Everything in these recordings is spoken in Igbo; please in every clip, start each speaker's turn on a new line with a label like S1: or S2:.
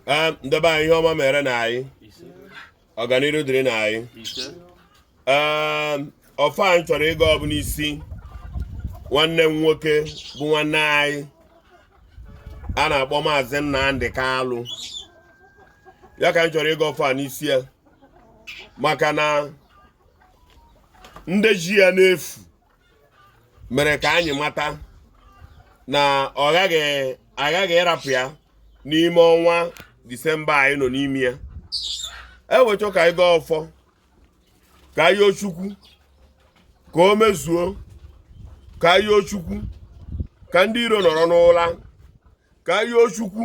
S1: ee nde be anyị ihe ọma meere na anyị ọganihu dịrị na anyị ee ọfọ anyị chọrọ ịgọ ọ bụ n'isi nwanne m nwoke bụ nwanne anyị a na-akpọ maazị Nnamdi Kalụ ya ka anyị chọrọ ịgọ ọfọ a n'isi ya maka na ndị ji ya n'efu mere ka anyị mata na ọ ghaghị aghaghị ịrapụ ya n'ime ọnwa disemba anyị nọ n'ime ya e wee chọọ ka anyị gọọ ọfọ ka anyị yọọ chukwu ka o mezuo ka anyị yọọ chukwu ka ndị iro nọrọ n'ụla ka anyị yọọ chukwu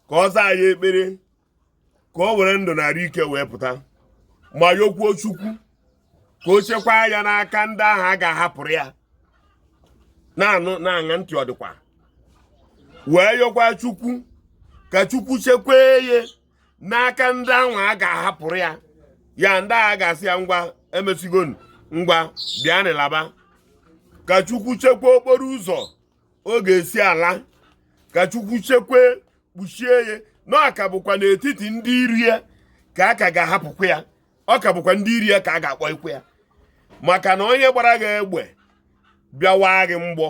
S1: ka ọ zaa anyị ekpere ka o were ndụ na arụ ike wee pụta ma yọkwuo chukwu ka o chekwaa ya n'aka ndị ahụ a ga-ahapụrụ ya na-anụ na-aṅa ntị ọ dịkwa wee yọkwa chukwu ka chukwu chekwee ya n'aka ndị ahụ a ga-ahapụrụ ya ya ndị ahụ ga-asị ya ngwa emesigo ngwa bịanụ laba ka chukwu chekwaa okporo ụzọ ọ ga-esi ala ka chukwu chekwe kpuchie ya na ọ ka bụkwa n'etiti ndị iro ya ka a ka ga-ahapụkwa ya ọ ka bụkwa ndị iro ya ka a ga-akpọyekwa ya maka na onye gbara gị egbe bịa ịwa gị mgbọ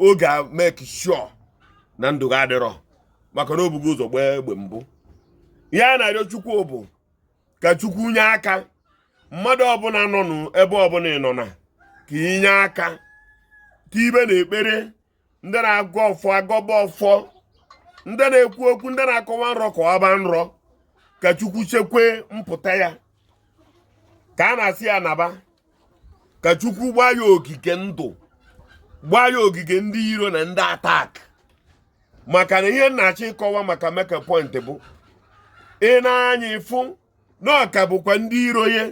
S1: ọ ga-emake sure na ndụ gị adịrọ maka na o bugo ụzọ gbaa egbe mbụ ihe a na-arịọ chukwu bụ ka chukwu nye aka mmadụ ọbụla nọ n'ebe ọbụla ị nọ na ka i nye aka tiyebe na ekpere ndị na-agọ ọfọ agọba ọfọ ndị na-ekwu okwu ndị na-akọwa nrọ kọwaba nrọ ka chukwu chekwe mpụta ya ka a na-asị ya naba ka chukwu gbaa ya ogige ndụ gbaa ya ogige ndị iro na ndị attack maka na ihe m na-achọ ịkọwa maka my key point bụ ị na-anya ịfụ na ọ ka bụkwa ndị iro ya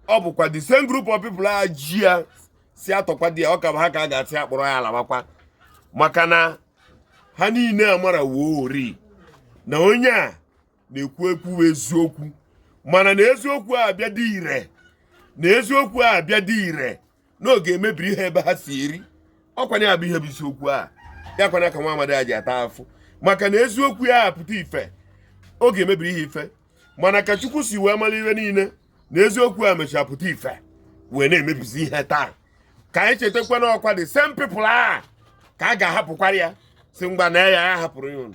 S1: ọ bụkwa the same group of people a ji ya si atọkwa di ya ọ ka bụ ha ka a ga-asị kpọrọ ya labakwa maka na ha niile amara woo ori na onye a na-ekwu ekwu eziokwu mana na eziokwu a abịa dị ire na eziokwu a abịa dị ire na ọ ga-emebiri ha ebe ha si eri ọkwa nya bụ ihe bụ isiokwu a ya kwana ka nwa amadi a ji ata afụfụ maka na eziokwu ya apụta ife ọ ga-emebiri ha ife mana ka chukwu si wee mara ihe niile na eziokwu a mechara pụta ife wee na-emebizi ihe taa ka anyị chetakwa na ọkwa the same people a ka a ga-ahapụkwara ya sị ngwa na ya ya hapụrụ ya ụnụ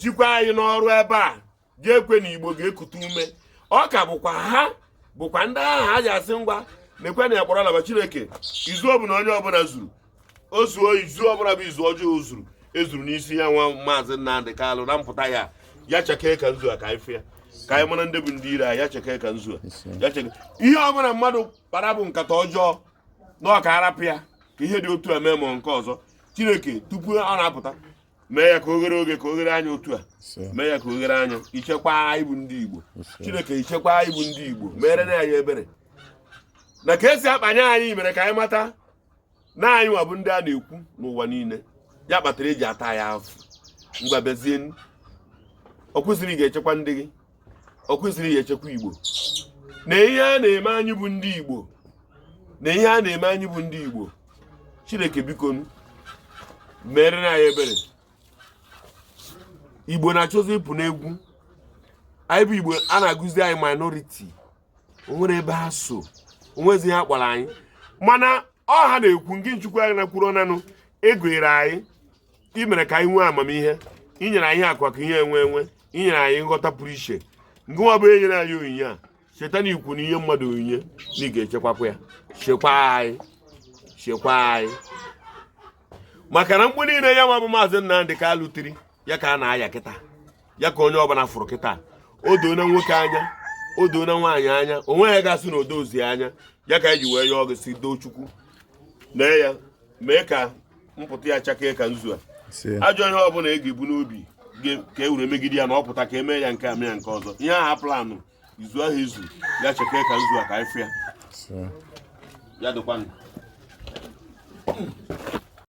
S1: jikwa anyị n'ọrụ ebe a ga-ekwe na igbo ga-ekute ume ọ ka bụkwa ha bụkwa ndị ahụ ha ji asị ngwa na-ekwe na akpọrọ alaba chineke izu ọbụla onye ọbụla zuru o zuo izu ọbụla bụ izu ọjọọ zuru ezuru n'isi ya nwa maazị Nnamdị Kalụ na mpụta ya ya chakee ka nzu a ka anyị fụ ya ka anyị mara ndị bụ ndị iro ya chakee ka nzu ya chakee ihe ọ bụla mmadụ kpara bụ nkata ọjọọ na ọ ka a rapụ ya ka ihe dị otu a mee ma nke ọzọ chineke tupu ọ na-apụta mee ya ka o ghere oghe ka o ghere anya otu a mee ya ka o ghere anya i chekwa anyị bụ ndị Igbo Chineke i chekwa anyị bụ ndị Igbo merenụ anyị ebere na ka e si akpanye anyị mere ka anyị mata na anyị nwa bụ ndị a na-ekwu n'ụwa niile ya kpatara e ji ata ya afụfụ ngwa bezie ọ kwesịrị ị ga-echekwa ndị gị ọ kwesịrị ị ya-echekwa igbo na ihe a na-eme anyị bụ ndị igbo na ihe a na-eme anyị bụ ndị igbo chineke biko merenụ anyị ebere igbo na-achọzi ịpụ n'egwu anyị bụ igbo a na-agụzi anyị minority o nwere ebe ha so o nwezi ihe ha kpọrọ anyị mana ọha na-ekwu nke chukwu anyị na-kwuru ọnanụ ị gọziri anyị i mere ka anyị nwee amamihe i nyere anyị akụ na ihe enwe enwe i nyere anyị nghọta pụrụ iche nke nwa bụ i nyere anyị onyinye a cheta na i kwu na i nye mmadụ onyinye na ị ga-echekwakwa ya chekwa anyị chekwa anyị maka na mkpu niile ya nwa bụ maazị Nnamdị Kalụ tiri ya ka a na-aya kịta ya ka onye ọbụla fụrụ kịta o doona nwoke anya o doona nwaanyị anya onye ga-asị na o dozi anya ya ka e ji wee yọọ gị sị doo chukwu na ya mee ka mpụta ya chakee ka nzu a ajọ ihe ọbụla a ga-ebu n'obi ka e were megide ya na ọ pụta ka e mee ya nke a mee ya nke ọzọ ihe ha planụ izu ahụ izu ya chakee ka nzu a ka anyị fụ ya ya dịkwanụ